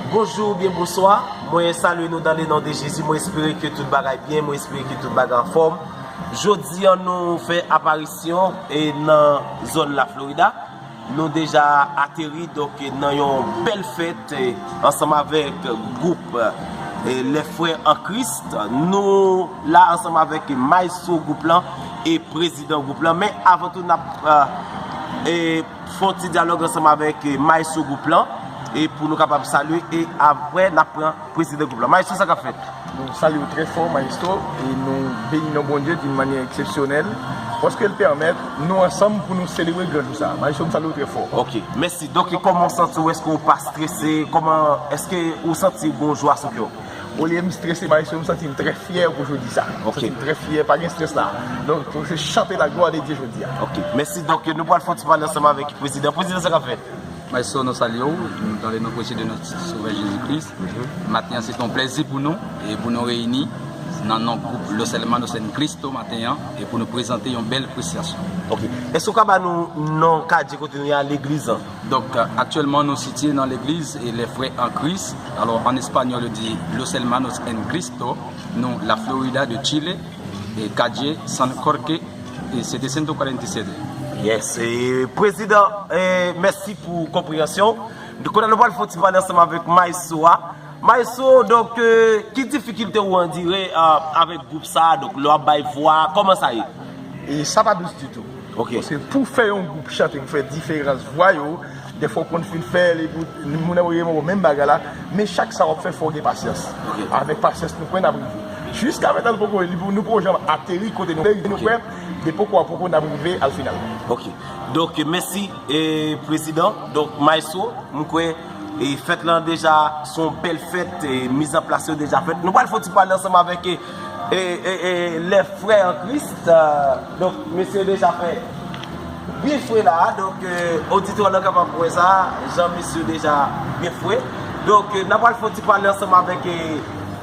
Bonjou oubyen bonswa, mwen salye nou dan le non de Jezi, mwen espere ke tout bagay byen, mwen espere ke tout bagay anfòm. Jodi an nou fè aparisyon e nan zòn la Florida, nou deja ateri donk nan yon bèl fèt ansanm avèk gwoup lè frè an Kris, nou la ansanm avèk maestro gwoup lan e prezidan gwoup lan men avan tou nap. Fè yon ti dyalòg ansanm avèk maestro gwoup lan e pou nou kapab salye e aprè n ap pran prezidan gwoup lan. Maestro sa k ap fèt? Nou salye w trè fò maestro e nou beni non Bondye doun mannyè eksepsyonèl paske l pèmèt nou ansanm pou nou selebre gran jou sa a. Maestro m salye w trè fò. Ok mèsi. Donk kòman w santi w? Èske w pa strese? Kòman, èske ou santi w gen yon jwa sou kè w? Olye m strese maestro m santi m trè fyè pou jodi sa m santi m trè fyè pa gen strès la donk pou se chante la glwa de Dye jodi a. Ok mèsi donk nou pral fè yon ti pale ansanm avèk prezidan prezidan sa kap fèt? Maestro nou salye w nou tande nou preche de notre sovè jezi kris maten an se te yon plèzi pou nou e pou nou reyini nan non gwoup los hermanos en cristo maten an e pou nou prezante yon bèl presiasyon. Ok èske w ka ba nou non kadye kote nou ye a legliz an? Donk, aktyèlman nou sitye nan legliz Les Frères en Christ, alò an espanyòl yo di Los Hermanos en Cristo, nou La Florida de Chile, Calle San Jorge 747. Yes, Prezidan, mèsi pou konpreyansyon w. Kounye a nou pral fè yon ti pale ansanm avèk Maestro a. Maestro donk ki difikilte ou andire avèk gwoup sa a donk lè wap bay vwa a kòman sa ye? E sa pa dous ditou. Ok. Paske pouw fè yon gwoup chante pou fè diferans vwa yo, dèfwa ou konn fin fèl epi moun ap rele menm bagay la, men chak sa wap fè fòw gen pasyans. Ok. Avèk pasyans nou kwè nap rive. Jiska mentan nou poko nou poko janm ateri kote nou vle rive nou kwè de poko a poko nap rive al final. Ok. Donk mèsi prezidan, donk maestro mwen kwè. E fèt lan deja se yon bèl fèt, mizanplas yo deja fèt. Nou pral fè yon ti pale ansanm avèk lè frè an kris. Donk, mesye deja fè byen fre la a. Donk, oditè w lan kapab wè sa a, jan mesye yo deja byen fre. Donk, nan pral fè yon ti pale ansanm avèk.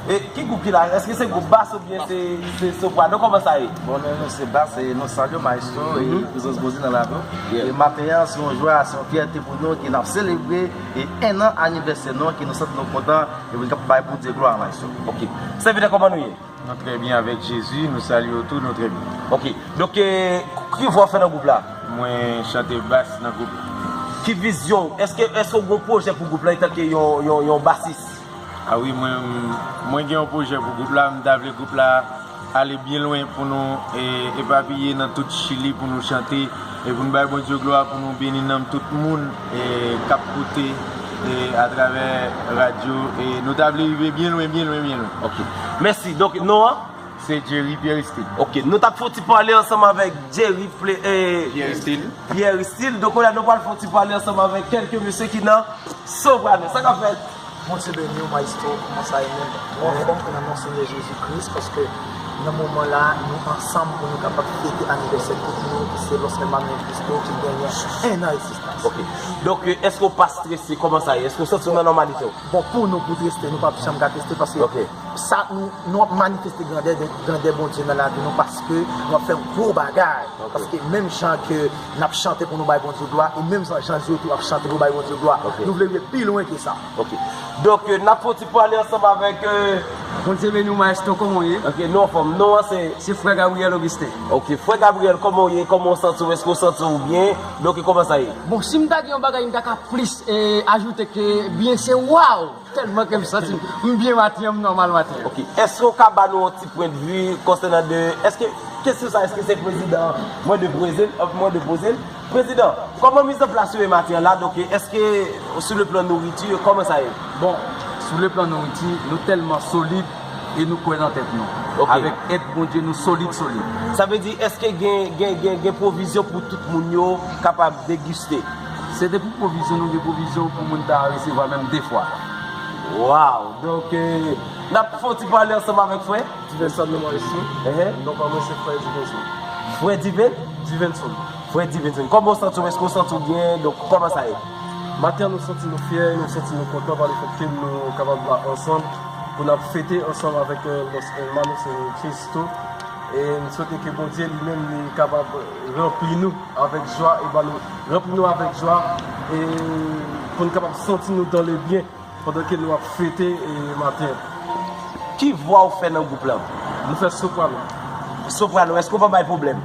E ki group ki la? Eske se group bass ou byen se soprano koman sa ye? Bon nou nou se bass e nou salye maestro e prezans Bondye nan lavi w e maten an se yon jwa se yon fyète pou nou ke nap selebre e 1 an anivèsè nou an ke nou santi nou kontan e pou nou kapab bay Bondye glwa maestro. Ok. Sèvitè koman nou ye? Nou trè byen avèk Jezi, nou salye w tou nou trè byen. Ok. Donk ki vwa w fè nan group la? Mwen chante bass nan group la. Ki vizyon w? Eske ou gen yon pwojè pou group la etanke yon basis? A wi mwen gen yon pwojè pou gwoup la, m ta vle gwoup la ale byen lwen pou nou epapiye nan tout chili pou nou chante e pou nou bay Bondye glwa pou nou beni nanm tout moun kap koute atravè radyo e nou ta vle rive byen lwen byen lwen byen lwen. Ok mèsi donk non an? Se Jerry Pierre Estil. Ok nou tap fouti pale ansanm avèk Jerry Pierre Estil. Pierre-Estile, Donk kounye a nou pral fè yon ti pale ansanm avèk kèlke mesye ki nan Soprano. Sa k ap fèt? Bondye beniw maestro kòman sa ye menm mwen anfòm o nan non senyè jezi kris paske nan moman la nou ansanm pou nou kapab fete anivèsè tout moun ki se los hermanos cristo ki genyen 1 an egzistans. Ok donk eske ou pa strese kòman sa ye eske ou santi w nan nòmalite w? Bon pou nou pou treste nou pap janm ka treste paske Ok. Sa nou ap manifeste grandè Bondye nan lavi nou paske nou ap fè gwo bagay paske menm jan ke nap chante pou nou bay Bondye glwa e menm jan zye yo tou ap chante pou bay Bondye glwa nou vle rive pi lwen ke sa. Ok donk nap fon ti pale ansanm avèk. Bondye beni w maestro koman w ye. Ok nou anfom non an se. Se frè Gabriel Augustin. Ok frè Gabriel koman w ye koman w santi w eske w santi w byen donk koman sa ye. Bon sim ta gen yon bagay m ta ka plis ajoute ke byen se waw. Tèlman kèm santi m byen maten an m nòmal maten an. Ok eske ou ka ba nou yon ti pwendvi konsènan de eske kesyon sa eske se prezidan mwen de pwezel ok mwen de pozel prezidan kòman miz an plas yo ye maten an la donk eske sou le plan nouriti kòman sa ye. Bon sou le plan nouriti nou tèlman solid e nou kwè nan tèt nou ok avèk èd bondye nou solid solid. Sa vle di eske gen gen gen gen pwovizyon pou tout moun yo kapab degiste. Se te pou pwovizyon nou gen pwovizyon pou moun ta resevwa menm de fwa. Waw! Donk, n ap fè yon ti pale ansanm avèk frè. Divenson nou mwen resi. Non pa mwen se frè Divenson. Frè Diven? Divenson. Frè Divenson. Kòman ou santi w? Èske ou santi w byen? Donk, kòman sa ye? Maten nou santi nou fyè, nou santi nou kontan pa le fèt ke nou kapab la ansanm pou n ap fete ansanm avèk Los Hermanos en Christo. E n swete ke Bondye li menm li kapab. Ranpli nou avèk jwa e ban nou. Ranpli nou avèk jwa e pou n kapab santi nou dan le byen pandan ke nou ap fete maten an. Ki vwa ou fè nan gwoup lan? Mwen fè soprano. Soprano, èske ou pa bay pwoblèm?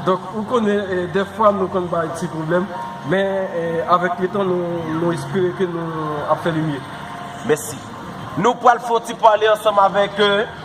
Donk, ou konnen, dèfwa nou konn bay ti pwoblèm, men avèk le tan nou espere ke nou ap fè le mye. Mèsi. Nou pral fè yon ti pale ansanm avèk.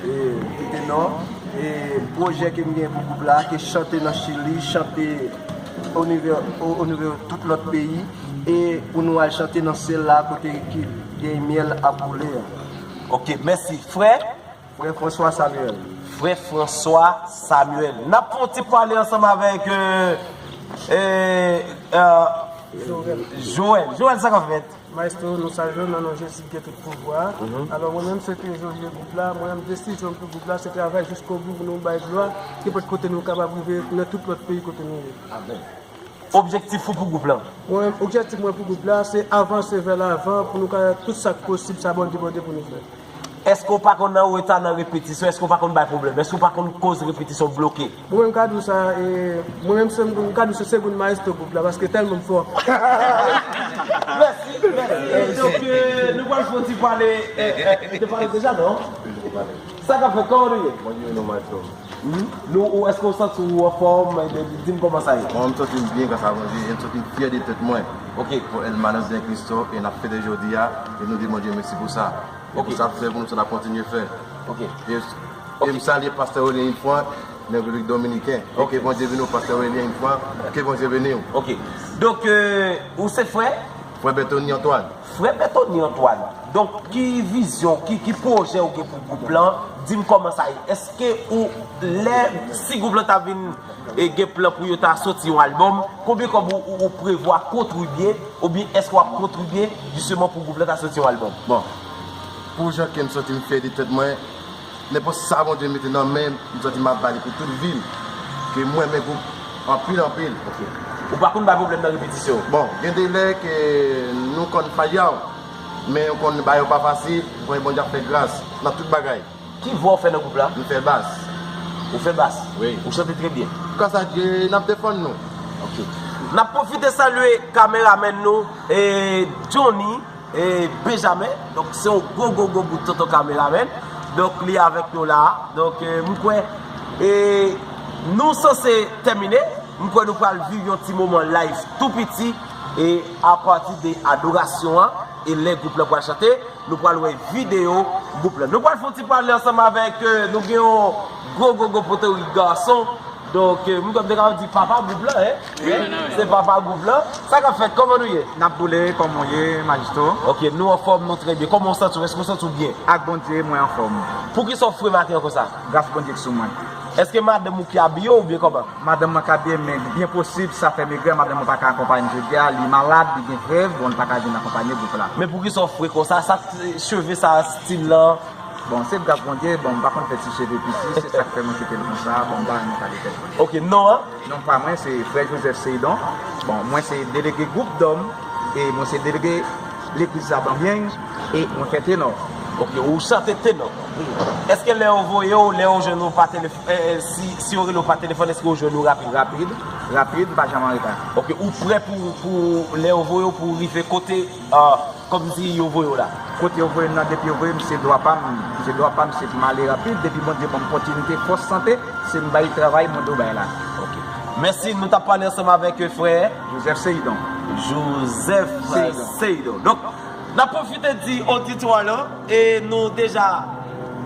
Ki te non e pwojè ke m gen pou gwoup la ke chante nan chili, chante o nivo tout lòt peyi e pou nou al chante nan syèl la kote ki gen myèl ap koule an. Ok mèsi frè. Frè François Samuel. Frè François Samuel. N ap fè yon ti pale ansanm avèk Joel. Joel sa k ap fèt? Maestro nou salyew nan non Jezi ki gen tout pouvwa alò mwen menm se trezorye gwoup la mwen menm desizyon m pou gwoup la se travay jiskobou pou nou bay glwa nenpòt kote nou kapab rive nan tout lòt peyi kote nou ye. Objektif ou pou gwoup la? Objektif mwen pou gwoup la se avanse vè lavan pou nou ka tout sak posib sa Bondye mande pou nou fè. Èske ou pa konn an reta nan repetisyon? Èske ou pa konn bay pwoblèm? Èske ou pa konn koz repetisyon bloke? Mwen menm Kadou sa e mwen menm se m Kadou se segonn maestro gwoup la paske tèlman m fò. Mèsi, mèsi. Donk nou pral fon ti pale. Nou te pale deja non? Sa kap fèt? Kòman nou ye? Mwen byen non maestro. Wi, nou ou eske ou santi ou anfòm, ebyen dim kòman sa ye? Bon m santi m byen gras a Bondye e m santi m fyè de tèt mwen ok pou el manos de Cristo e nap fete jodi a e nou di Bondye mesi pou sa e pou sal fè pou nou sa lap kontinye fè ok e m salye pastè Relien yn fwa nan Repiblik Dominiken e ke Bondye beni w pastè Relien yn fwa ke Bondye beni w ok donk ou se frè? Frè Bètoni Antwàn. Frè Bètoni Antwàn, donk ki vizyon, ki pwojè ou gen pou gwoup lan, di m kòman sa ye? Eske ou, lè, si gwoup lan ta vin gen plan pou yo ta soti yon albòm, konbyen kòb ou prevwa kontribye, oubyen eske w ap kontribye jisteman pou gwoup lan ta soti yon albòm? Bon, pou jan ke m santi m fyè de tèt mwen, Nenpòt sa Bondye mete nan men m santi map bali pou tout vim ke m renmen group anpil anpil ok. Ou pa konn bay pwoblèm nan repetisyon. Bon gen de lè ke nou konn fayaw men ou konn bayo pa fasil ou konnen Bondye ap fè gras nan tout bagay. Ki vwa ou fè nan group la? M fè bass. Ou fè bass? Wi. Ou chante trè byen. Gras a Dye nap defann nou. Ok. Nap pwofite salye kameramen nou Johnny. Benjamin donk se yon gwo gwo gwo bout tonton kameramen donk li avèk nou la donk m kwè nou sanse tèmine m kwè nou pral viv yon ti moman live tou piti e apati de adorasyon an e lè gwoup lan pral chante nou pral wè video gwoup lan nou pral fon ti pale ansanm avèk nou gen yon gwo gwo gwo potorik gason Donk m kwè m te kapab di papa gwoup lan hein? Wi mwen nan. Se papa gwoup lan. Sa k ap fèt? Kòman nou ye? N ap boule, kòman ou ye Majito? Ok nou anfòm nou trè byen. Kòman ou santi w? Èske ou santi w byen? Ak Bondye mwen anfòm. Poukisa w fre maten an konsa? Gras Bondye k sou mwen. Èske madanm ou ki abiye w oubyen kòman? Madanm mwen k abiye m men li byen posib sa fè megrè madanm mwen pa ka akonpaye m jodi a li malad li gen grèv bon li pa ka vin akonpanye gwoup la. Men poukisa w fre konsa? Sa k cheve sa a stil lan? Bon se gras bondye bon m pa konn fè ti cheve piti se sak fè mwen kite l konsa bon m pa renmen pale tèt mwen. Ok non an? Non pa mwen se frè Joseph Ceidon bon mwen se delege gwoup dòm e mwen se delege legliz la banmyeny e mwen fè tenò. Ok ou chante tenò? Wi. Eske lè yo voye w lè yo jwenn ou pa telefòn si yo rele w pa telefòn eske yo jwenn ou rapid? Rapid, rapid m pa janm anreta. Ok ou prè pou lè yo voye w pou rive kote? Kòm si yo voye w la. Kote yo voye m nan depi yo voye m se dwa pa m se dwa pa m se pou m ale rapid depi Bondye ban m pòtinite fòs sante se m bay travay mwen do bay la ok mèsi nou tap pale ansanm avèk frè Joseph Ceidon Joseph Ceidon donk nap pwofite di oditwa yo. E nou deja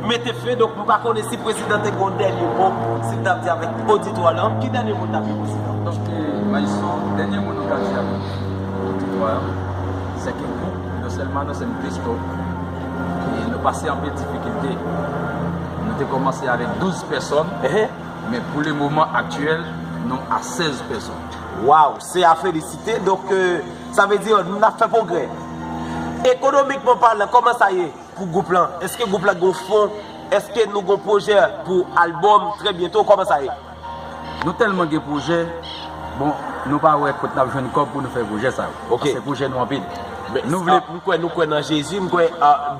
mete fen donk m pa konnen si prezidan te gen yon dènye mo si l t ap di avèk oditwa lan. Ki dènye mo l t ap di prezidan? Donk Maisson, dènye mo nou ka di avèk oditwa an se ke gwoup yo sèlman nan sèn Christo e nou pase anpil difikilte. Nou te kòmanse avèk 12 pèsòn men pou le moman aktyèl nou a 16 pèsòn. Waw! Se a felisite donk. Sa vle di n ap fè pwogrè. Ekonomikman palan, kòman sa ye pou gwoup lan? Eske gwoup lan gen yon fon? Eske nou gen yon pwojè pou albòm trè byento? Kòman sa ye? Nou tèlman gen pwojè, bon, nou pa wè kot n ap jwenn kòb pou nou fè pwojè sa yo. Paske pwojè nou anpil. Nou vle. M kwè nou kwè nan Jezi. M kwè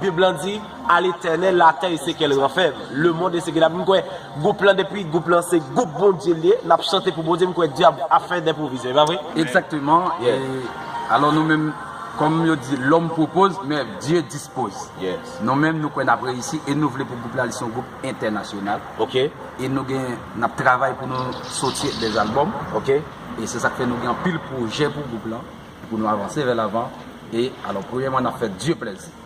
Bib lan di. A Letènèl, latè e se kè l ranfè, le mond e se ke l ap. M kwè gwoup lan depi gwoup lan se gwoup Bondye l ye, n ap chante pou Bondye, m kwè dyab ap fè dè pwovizyon, e pa vre? Egzakteman, e alò nou menm kòm yo di lòm pwopoz mè Dye dispoz. Nou menm nou kwè n ap reyisi e nou vle pou gwoup la li se yon gwoup entènasyonal e nou gen n ap travay pou nou soti ak dè albòm e se sa k fè nou gen anpil pwojè pou gwoup lan pou nou avanse vè lavan e alò premyèman n ap fè Dye plèzi.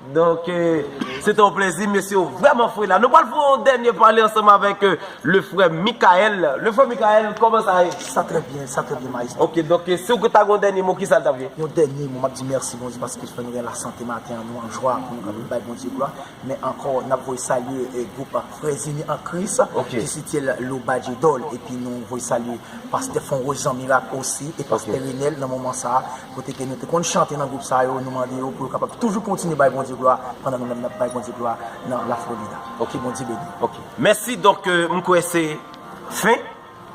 Donk, se te yon plezi, mesye yo vrèman fre la. Nou pral fè yon dènye pale ansanm avèk le frè Mickaël. Le frè Mickaël, kòman sa ye? Sa trè byen, sa trè byen maestro. Ok, donk, si w ta gen yon dènye mo, kisa l t ap ye? Yon dènye mo, m ap di mèsi Bondye paske l fè nou gen lasante maten an, nou an jwa pou nou kapab bay Bondye glwa. Men ankò, n ap voye salye gwoup Frèzini an Kris ki sitye l lo Badjedò l. Epi nou voye salye pastè Fonrozan Mirak osi e pastè Renèl nan moman sa a. Kote ke nou te konn chante nan gwoup sa yo, nou mande yo pou yo kapab toujou kontinye bay Bondye glwa pandan nou menm nap bay Bondye glwa nan La Florida. Ke Bondye beni. Ok mèsi donk m kwè se fen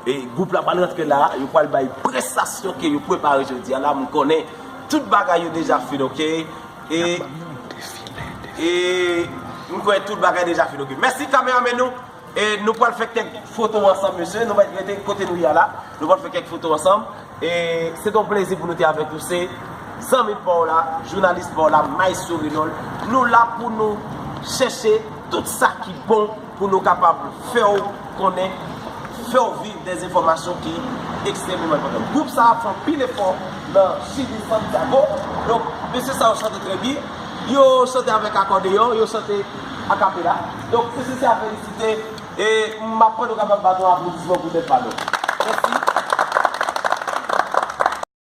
e gwoup la pral rantre la yo pral bay prestasyon ke yo prepare jodia la m konnen tout bagay yo deja fin ok e e m kwè tout bagay deja fin ok mèsi kameramen nou. E nou pwal fè kèk foto ansanm mesye nou mèt rete kote nou ye a la nou pwal fè kèk foto ansanm e se te yon plezi pou nou te avèk ou se zanmi paw la jounalis paw la maestro Renold nou la pou nou chèche tout sa ki bon pou nou kapab fèw konnen fèw viv dè enfòmasyon ki ekstrèmeman enpòtan gwoup sa ap fè anpil efò nan sidi santiago donk mesye sa yo chante trè byen yo chante avèk akòdeyon yo chante akapela. Donk se sesi a felisite e m ap pran nou kapab bat yon aplodisman pou tèt pa nou. Mèsi.